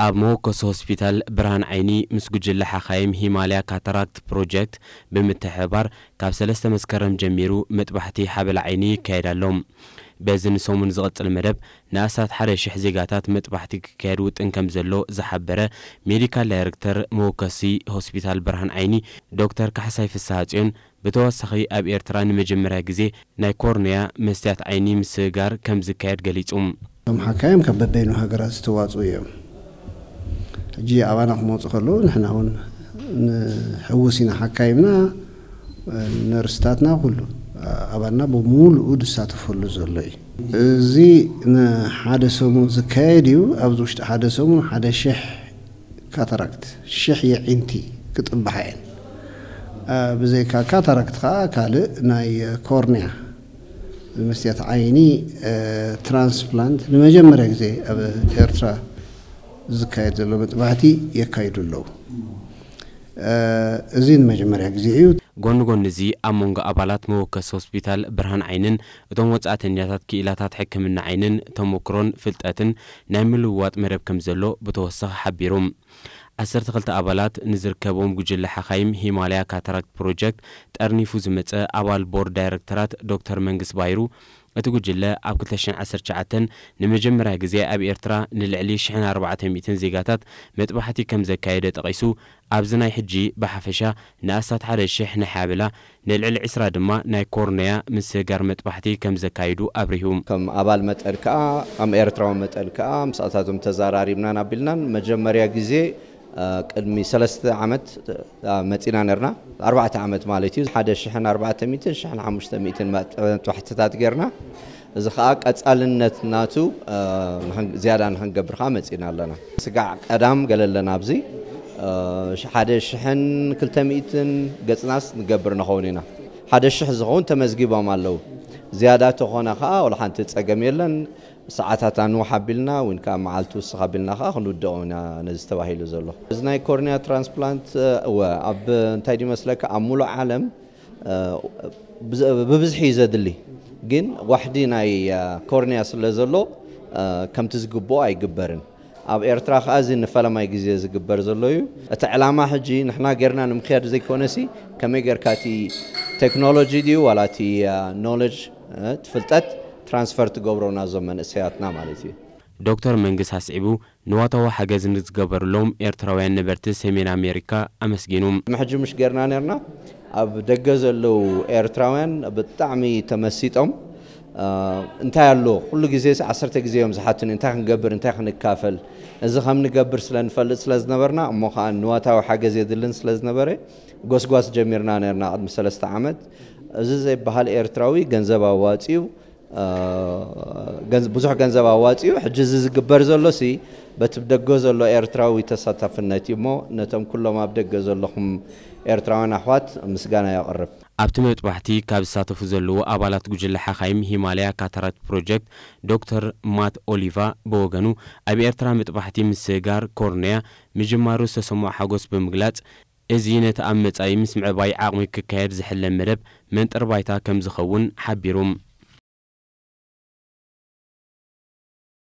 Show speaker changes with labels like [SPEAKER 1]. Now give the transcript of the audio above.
[SPEAKER 1] ኣብ መወከሲ ሆስፒታል ብርሃን ዓይኒ ምስ ጉጅለ ሓኻይም ሂማልያ ካታራክት ፕሮጀክት ብምትሕብባር ካብ ሰለስተ መስከረም ጀሚሩ መጥባሕቲ ሓበላ ዓይኒ ይካየድ ኣሎ። በዚ ንሰሙን ዝቕጽል መደብ ንኣስታት ሓደ ሽሕ ዜጋታት መጥባሕቲ ክካየድ ውጥን ከምዘሎ ዝሓበረ ሜዲካል ዳይረክተር መወከሲ ሆስፒታል ብርሃን ዓይኒ ዶክተር ካሕሳይ ፍስሃጽዮን፣ ብተወሳኺ ኣብ ኤርትራ ንመጀመርያ ግዜ ናይ ኮርንያ፣ መስትያት ዓይኒ፣ ምስግጋር ከም ዝካየድ ገሊጹ። እቶም ሓካይም ካብ
[SPEAKER 2] በበይኑ ሃገራት ዝተዋጽኡ እዮም። ሕጂ ኣባና ክመጹ ከለዉ ንሕና ውን ንሕውስ ኢና። ሓካይምና፣ ነርስታትና ኩሉ ኣባልና ብምሉኡ ዝሳተፈሉ ዘሎ እዩ። እዚ ንሓደ ሰሙን ዝካየድ እዩ። ኣብዚ ውሽጢ ሓደ ሰሙን ሓደ ሽሕ ካታራክት ሽሕ የዒንቲ ክጥብሓ እየን። ብዘይካ ካታራክት ከኣ ካልእ ናይ ኮርንያ፣ መስትያት ዓይኒ፣ ትራንስፕላንት ንመጀመርያ ግዜ ኣብ ኤርትራ ዝካየድ ዘሎ መጥባሕቲ የካይዱ ኣለዉ። እዚ ንመጀመርያ ግዜ እዩ። ጎኒ ጎኒ እዚ
[SPEAKER 1] ኣብ መንጎ ኣባላት መወከሲ ሆስፒታል ብርሃን ዓይንን እቶም ወጻእተኛታት ክኢላታት ሕክምና ዓይንን ተሞክሮን ፍልጠትን ናይ ምልውዋጥ መደብ ከምዘሎ ብተወሳኺ ሓቢሩ። ዓሰርተ ክልተ ኣባላት ንዝርከቦም ጉጅለ ሓኻይም ሂማላያ ካታራክት ፕሮጀክት ጠርኒፉ ዝመጸ ኣባል ቦርድ ዳይረክተራት ዶክተር መንግስ ባይሩ፣ እቲ ጉጅለ ኣብ ክልተ ሽሕን ዓሰርተ ትሽዓተን ንመጀመርያ ግዜ ኣብ ኤርትራ ንልዕሊ ሽሕን ኣርባዕተ ሚእትን ዜጋታት መጥባሕቲ ከምዘካየደ ጠቒሱ፣ ኣብዚ ናይ ሕጂ ብሓፈሻ ንኣስታት ሓደ ሽሕ ንሓያብላ ንልዕሊ ዕስራ ድማ ናይ ኮርነያ ምስግጋር መጥባሕቲ ከም ዘካይዱ ኣብሪሁ። ከም ኣባል መጠን
[SPEAKER 3] ከኣ ከም ኤርትራዊ መጠን ከኣ ምስኣታቶም ተዛራሪብናን ኣቢልናን መጀመርያ ግዜ ቅድሚ ሰለስተ ዓመት መጺና ኔርና ኣርባዕተ ዓመት ማለት እዩ ሓደ ሽሕን ኣርባዕተ ሚእትን ሽሕን ሓሙሽተ ሚእትን መጥባሕትታት ጌርና እዚ ከኣ ቀጻልነት ናቱ ዝያዳ ንክንገብር ከኣ መጺእና ኣለና። ስጋዕ ቀዳም ገለ ኣለና ኣብዚ ሓደ ሽሕን ክልተ ሚእትን ገጽናስ ንገብር ንኸውን ኢና። ሓደ ሽሕ ዝኸውን ተመዝጊቦም ኣለዉ። ዝያዳ ተኾነ ከኣ ወላ ሓንቲ ጸገም የለን። ሰዓታታ ንውሕ ኣቢልና ዊን ከኣ መዓልቲ ውስኽ ኣቢልና ከኣ ክንውድኦ ኢና ነዚ ተባሂሉ ዘሎ። እዚ ናይ ኮርንያ ትራንስፕላንት እወ ኣብ እንታይ ድዩ መስለካ ኣብ ምሉእ ዓለም ብብዝሒ እዩ ዘድሊ ግን ዋሕዲ ናይ ኮርንያ ስለ ዘሎ ከምቲ ዝግብኦ ኣይግበርን። ኣብ ኤርትራ ከኣ እዚ ንፈለማይ ግዜ ዝግበር ዘሎ እዩ። እቲ ዕላማ ሕጂ ንሕና ጌርና ንምክያድ ዘይኮነሲ ከመይ ጌርካ እቲ ቴክኖሎጂ ድዩ ዋላ እቲ ኖለጅ እቲ ፍልጠት ትራንስፈር ትገብሮ ናዞም መንእሰያትና ማለት እዩ። ዶክተር መንግስ
[SPEAKER 1] ኣስዒቡ ንዋታዊ ሓገዝ ንዝገበርሎም ኤርትራውያን ነበርቲ ሰሜን ኣሜሪካ ኣመስጊኑ። ቅድሚ ሕጂ ምሽ ጌርና
[SPEAKER 3] ኔርና ኣብ ደገ ዘለዉ ኤርትራውያን ብጣዕሚ ተመሲጦም እንታይ ኣሎ ኩሉ ግዜስ ዓሰርተ ግዜ እዮም ዝሓቱኒ እንታይ ክንገብር እንታይ ክንካፈል እዚ ከም ንገብር ስለ ንፈልጥ ስለ ዝነበርና እሞ ከኣ ንዋታዊ ሓገዝ የድልን ስለ ዝነበረ ጎስጓስ ጀሚርና ኔርና ቅድሚ ሰለስተ ዓመት እዚ ዘይበሃል ኤርትራዊ ገንዘብ ኣዋጺኡ ብዙሕ ገንዘብ ኣዋፂኡ ሕጂ እዚ ዝግበር ዘሎሲ በቲ ደገ ዘሎ ኤርትራዊ ተሳታፍነት እዩ እሞ ነቶም ኩሎም ኣብ ደገ ዘለኹም ኤርትራውያን ኣሕዋት ምስጋና የቕርብ። ኣብቲ መጥባሕቲ
[SPEAKER 1] ካብ ዝሳተፉ ዘለዉ ኣባላት ጉጅለ ሓኻይም ሂማላያ ካታራክት ፕሮጀክት ዶክተር ማት ኦሊቫ ብወገኑ ኣብ ኤርትራ መጥባሕቲ ምስግጋር ኮርንያ ምጅማሩ ዝተሰምዖ ሓጎስ ብምግላጽ፣ እዚ ነቲ ኣብ መጻኢ ምስ ምዕባይ ዓቕሚ ክካየድ ዝሕለም መደብ መንጥር ባይታ ከምዝኸውን ሓቢሩ።